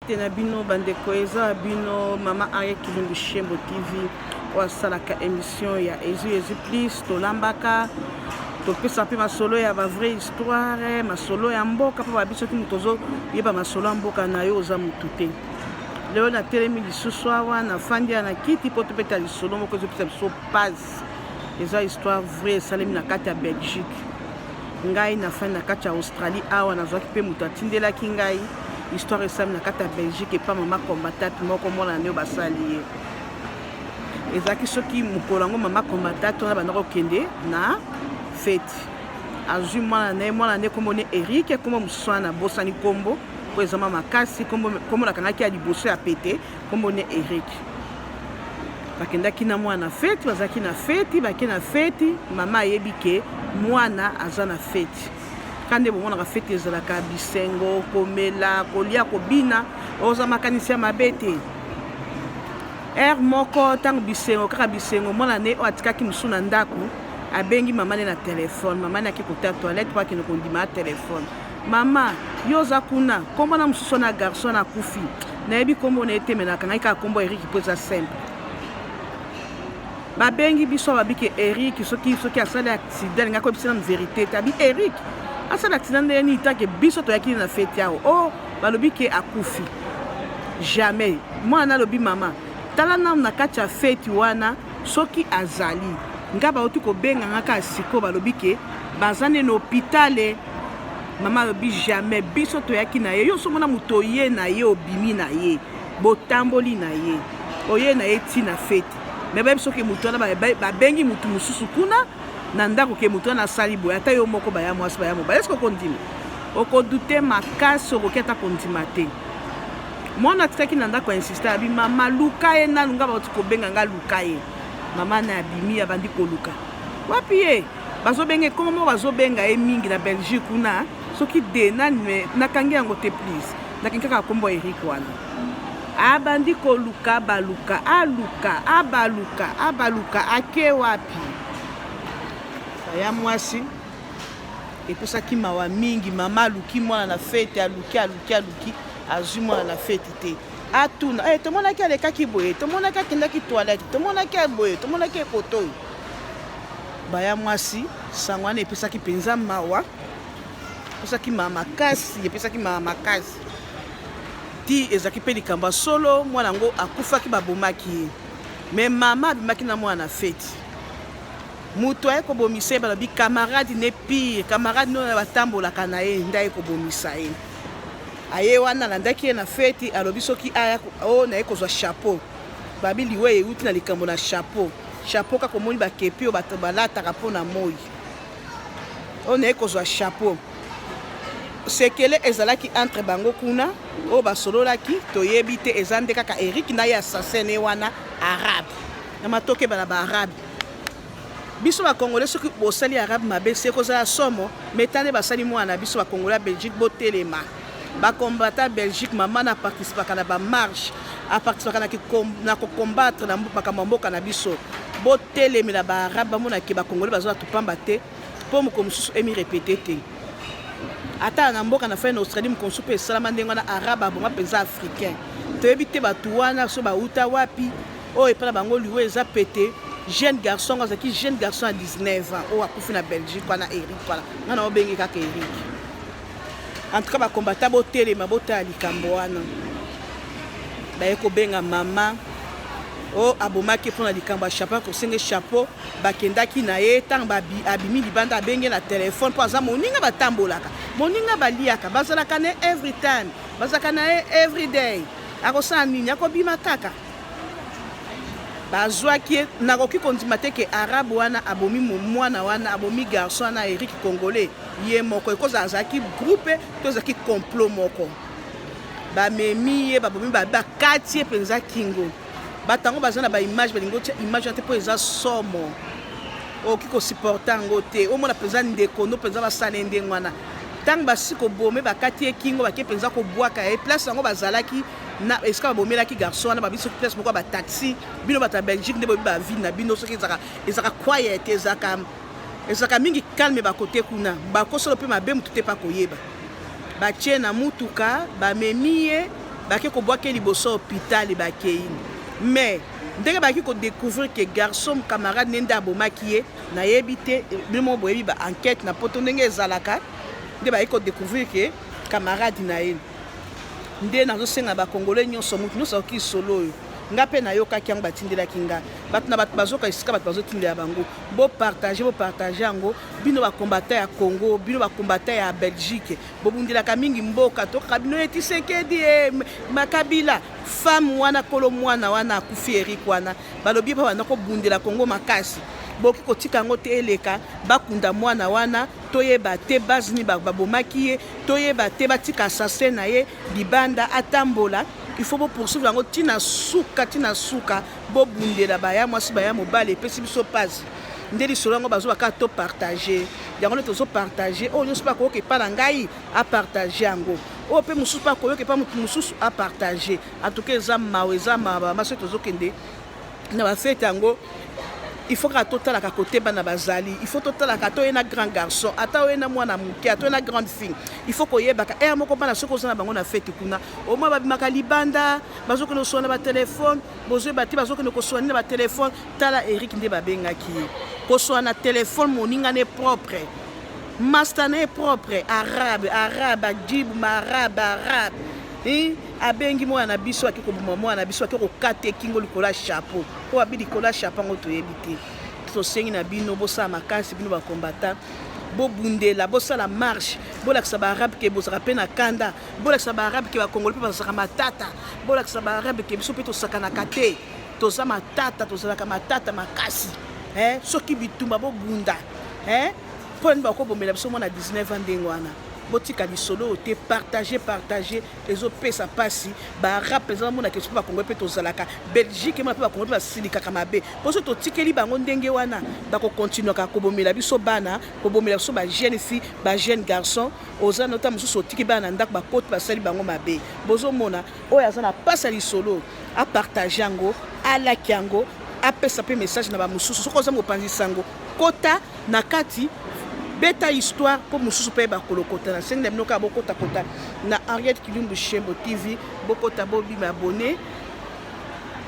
te na bino bandeko eza ya bino mama arie kilundu shembo tv oyo asalaka émission ya ezu ezu plus tolambaka topesa mpe masolo ya bavrai histoire masolo ya mboka mpo babi soki moto ozoyeba masolo ya mboka na yo oza motu te lelo natelemi lisusu awa nafandi ya na kiti mpo tobeta lisolo moko ezopesa biso pase eza histoire vrai esalemi na kati ya belgique Ngai nafandi na kati ya Australie awa nazwaki mpe moto atindelaki ngai histoire esami na kati ya Belgique epa mama combatate moko mwana na nio basali ye ezalaki soki mokolo yango mama combatate wana banda kokende na feti azwi mwana na ye mwana na ye nkombo ne erike nkombo mosusu wana nabosani nkombo mpo ezama makasi nkombo nakangaki ya liboso ya pete Kombo ne Eric. Bakendaki na mwana na feti, bazalaki na feti, bake na feti, mama ayebi ke mwana aza na feti. Kande bomonaka feti ezalaka bisengo, komela, kolia, kobina, oza makanisi ya mabe te. Heure moko ntango bisengo kaka bisengo, mwana ne oyo atikaki mosusu na ndako abengi mama ne na telefone, mama ne ake kota toilette mpo akende kondima telefone. Mama yo oza kuna kombo na mosusu wana garçon na kufi nayebi kombo na ye te me nakangai kaka kombo ya eriki mpo eza simple babengi biso babike eriki soki soki asali accident alingi akoyebisa nanu verité te abi eriki asala accident ndenge nini tanke biso toyaki na feti awo o oh, balobi ke akufi jamais mwana alobi mama tala nanu na kati ya feti wana soki azali ngai bauti kobenga nga kaka sikoyo balobi ke baza nde na hopitale Mama alobi jamais biso toyaki na ye yo somo na moto oye na ye obimi na ye botamboli na ye oye na ye ti na fete me bayebi soki moto wana babengi motu mosusu kuna na ndako ke moto wana asali boye ata yo moko baya mwasi baya mobali eske okondima okodute makasi okoki ata kondima te mwana atikaki na ndako ya insiste abi mama luka ye nanu nga bauti kobenga nga luka ye mama na abimi abandi koluka wapi ye Bazobenga ekoma moko bazobenga ye mingi na Belgique kuna soki de nani me nakangi yango te please nakangi kaka kombo Eric wana abandi koluka baluka aluka abaluka abaluka ake wapi ya mwasi epesaki mawa mingi mama aluki mwana na fete aluki aluki aluki azwi mwana na fete te atuna hey, eh, tomonaki alekaki boye tomonaki akendaki toilette tomonaki boye tomonaki ekoto oyo Baya mwasi, sango wana epesaki mpenza mawa, epesaki mawa makasi, epesaki mawa makasi ti ezalaki mpe likambo ya solo. Mwana yango akufaki, babomaki ye, me mama abimaki na mwana na feti. Moto aye kobomisa ye, balobi kamaradi ne pire, kamaradi nde oyo batambolaka na ye nde aye kobomisa ye. Aye wana alandaki ye na feti, alobi soki aya o oh, naye kozwa chapeau, babi liwa euti na likambo na chapeau Chapeau kaka omoni ba kepi oyo bato balataka mpo na moi. Oyo naye kozwa chapeau. Sekele ezalaki entre bango kuna oyo basololaki toyebi te eza nde kaka Eric na ye assassin ne wana arabe. Na matoke bala ba arabe. Biso ba congolais soki bosali arabe mabe se kozala somo metane basali mwana biso ba congolais Belgique botelema. ba combattants Belgique maman na participaka na ba marche a participaka na ko combattre na makambo ya mboka na biso botelemela ba arabe bamona ke ba congolais baza bato pamba te mpo mokolo mosusu emi repete te ata na mboka na fai na australie mokolo mosusu mpe esalama ndenge wana arabe abonga mpenza africain toyebi te bato wana so bauta wapi oyo epai na bango liwa eza pete jeune garçon ngo azalaki jeune garçon ya 19 ans oyo akufi na belgique wana eric wana nga na obengi kaka eric En tout cas ba combattants botelema botala likambo wana baye kobenga mama o oh, abomaki mpo na likambo ya chapeau akosenge chapeau bakendaki na ye ntango abimi libanda abenge na telefone mpo aza moninga batambolaka moninga baliaka bazalaka na ye every time bazalaka na ye every day akosala nini akobima kaka bazwaki ye nakoki kondima te ke arabe wana abomi mwana wana abomi garçon wana eric congolais ye moko ekozala azalaki groupe to ezalaki complot moko bamemi ye babomi bakati ye mpenza kingo bato yango baza na baimage balingi otya image wana te mpo eza somo okoki kosupporte yango te omona mpenza ndeko no mpenza basala ye ndenge wana ntango basi kobome bakati ye kingo bake mpenza kobwaka ye place yango bazalaki na esika babomelaki garçon wana babi soki place moko ya bataxi bino bato ya belgique nde boyebi bavile na bino soki ezalaka quiet ezalaka Ezalaka mingi calme ba kote kuna bako solo pe mabe mutu te pa koyeba batie na mutuka bamemi ye bake kobwake liboso hopitali bakei mais ndenge baki kodecouvrir ke garçon camarade ne nde abomaki ye nayebi te bino moko boyebi ba enquête na poto ndenge ezalaka nde bayaki kodecouvrir ke camarade na ye nde nazosenga bakongole nyonso motu nyonso akoki solo oyo nga mpe nayokaki yango batindelaki nga bato na bato bazoka esika bato bazotindela bango Bo partager, bo partager yango. Bino ba combattants ya Congo, bino ba combattants ya Belgique. Bobundelaka mingi mboka. Tokaka bino ye Tshisekedi e Makabila. Femme wana kolo mwana wana akufi Eric wana. Balobi pa bana kobundela Congo makasi. Boki kotika yango te eleka bakunda mwana wana toyeba te base nini babomaki ye toyeba te batika assassin na ye libanda atambola il faut bopoursuivre yango ntina suka ntina suka Bobundela ba ya mwasi ba ya mobali epesi biso pasi nde lisolo yango bazoba kaka to partage yango nde tozo partage oyo nyonso mpe akoyoka epa na ngai apartage yango oyo mpe mosusu mpe akoyoka epa motu mosusu apartage atuka eza mawa eza mawa bamama soki tozokende na bafete yango il faut kaka totalaka kote bana bazali il faut totalaka ata oye na grand garçon ata oye na mwana moke ata oye na grande fille il faut koyebaka ere moko bana soki oza na bango na fete kuna omoi babimaka libanda bazokende koswana na batelefone bozoyeba te bazokende koswana na batelefone tala eric nde babengaki ye koswana na telefone moninga ne propre masta na ye propre arabe arabe ajibu maarabe arabe eh? abengi mwana na biso ake koboma mwana na biso ake kokata ekingo likolo ya chapeau oyo abi likolo ya chapeau yango toyebi te tosengi na bino bosala makasi bino bakombata bobundela bosala marche bolakisa baarabe ke bozalaka mpe na kanda bolakisa ba arabe ke ba congolais pe bazalaka matata bolakisa ba arabe ke biso pe tosakanaka te toza matata tozalaka matata makasi eh, soki bitumba bobunda eh, mpo nani bakobomela biso mwana 19 ans ndenge wana botika lisolo oyo te partage partage ezopesa mpasi baarab mpenza bamonaka esu mpe bakongo mpe tozalaka belgique mona mpe bakongo mpe basilikaka mabe mpo so totikeli bango ndenge wana bakokontinuaka kobomela biso bana kobomela biso bajeune fille bajeune garçon Oza na ta mususu otiki bana na ndako bakoti basali bango mabe bozo mona oyo aza na pasa lisolo a partage yango alaki yango apesa pe message na ba mususu soki oza mopanzi sango kota na kati beta histoire mpo mosusu mpe bakolokota na sengi na bino kaka bokotakota na henriette kilumbu shembo tv bokota bobima abone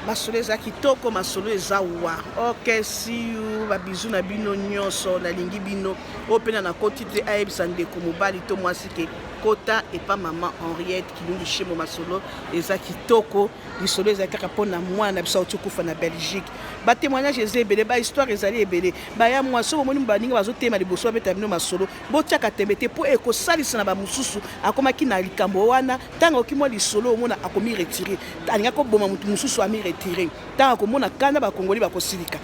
masolo eza kitoko masolo eza wa ok siu babizu na bino nyonso nalingi bino Oyo pena na koti te ayebisa ndeko mobali to mwasi ke kota epa mama Henriette Kilundu Shemo masolo eza kitoko lisolo ezali kaka mpo na mwana na biso auti kufa na Belgique ba témoignage eza ebele ba histoire ezali ebele baya mwa soki omoni baninga bazotema liboso babeta bino masolo botiaka tembe te mpo ekosalisa na bamosusu akomaki na likambo wana ntango aoki mwa lisolo omona akomi retire alingaki koboma moto mosusu ami retire ntango akomona kanda bakongoli bakosilika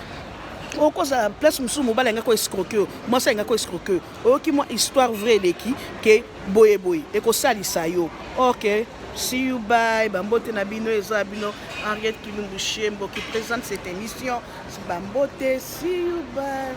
okozala place mosusu mobali alinga ko escroke yo mwasi alinga ko escroke yo oyoki mwa histoire vrai eleki ke boye boye ekosalisa yo ok see you bye bambote na bino eza bino henriette kilumbu shembo qui présente cette émission bambote see you bye